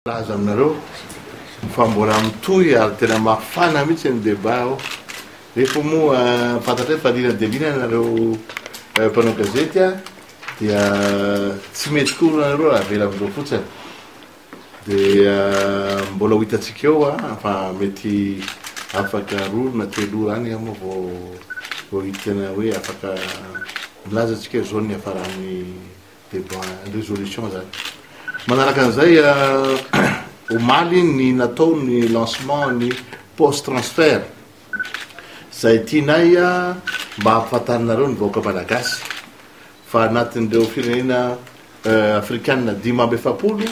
Milaza aminareo fa mbola mitohy ary tena mafana mihitsy ny débat ao. Nefa moa fantatray fa liana dia liana nareo eh, mpanao gazety a, dia tsy mety koa nareo raha avela amin'izao fotsiny. Dia eh, mbola ho hitantsika eo a, fa mety afaka roa na telo ora any moa vao vao hitana hoe afaka milaza antsika izao ny hafaran'ny debat, ny résolution zany. Manaraka an'izay omaly ny natao ny lancement ny post transfert izay tianay mba hampafantarinareo ny vahoaka malagasy fa anatin'ireo firenena afrikana dimy amby efapolo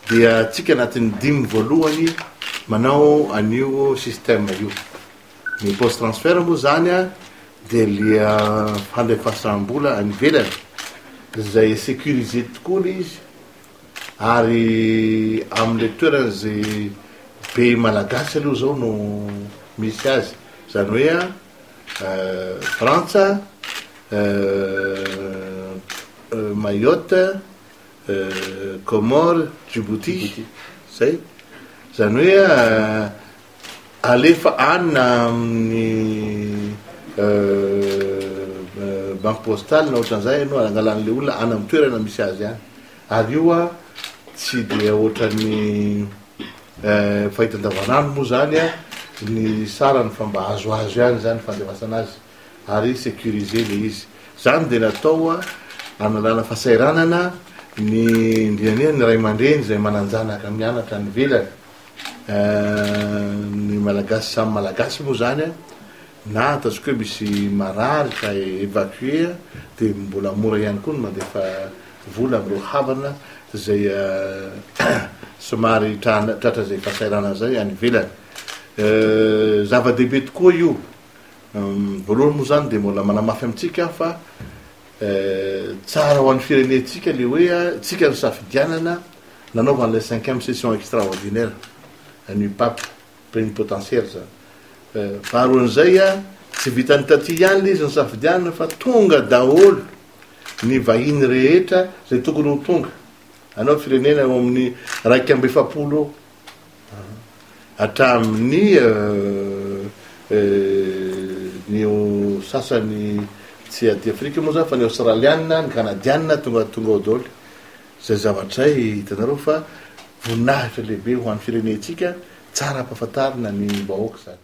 dia atsika anatin'ny dimy voalohany manao an'io système io. Ny post transfert moa zany a dia lia fandefasam-bola any ivelany izay sécurisé tokoa lay izy ary amin'ilay toerana izay be malagasy aloha izao no misy azy izany hoe a Frantsa Mayotte Comores Djibouti izay izany hoe a Alefa any na amin'ny banky postale na ohatran'izay ianao, angalan'ilay olona any amin'ny toerana misy azy any. Ary io an, tsy dia ohatran'ny fahita andavanandro moa izany ny sarany fa mba azoazo ihany izany ny fandefasana azy ary sécurisé ilay izy. Izany dia natao hanalana fahasahiranana ny indrindraindrindra ny ray aman-dreny izay manan-janaka mianatra any ivelany. ny malagasy samy malagasy moa zany a, na ataontsika hoe misy marary ka evacuer a, dia mbola mora ihany koa ny mandefa vola amin'ireo havana izay somary tra- tratra izay fahasahiranana izay any ivelany. Zava-dehibe tokoa io, voalohany moa zany dia mbola manamafy amintsika aho fa tsara ho an'ny firenentsika le hoe a, tsika no safidianana Nanaovany ilay cinquième session extraordinaire an'io pape plénipotentiaire zany. Faharoan'izay a, tsy vitan'ny taty ihany ilay izy nisafidianana fa tonga daholo ny vahiny rehetra izay tokony ho tonga. Anao firenena eo amin'ny raika amby efapolo eo hatramin'ny ny sasany tsy aty Afrika moa zany fa ny Aostraliana, ny Kanadiana tonga tonga ao daholo. Izay zavatra hay, hitanareo fa voninahitra lehibe ho an'ny firenentsika, tsara ampahafantarina ny vahoaka izany.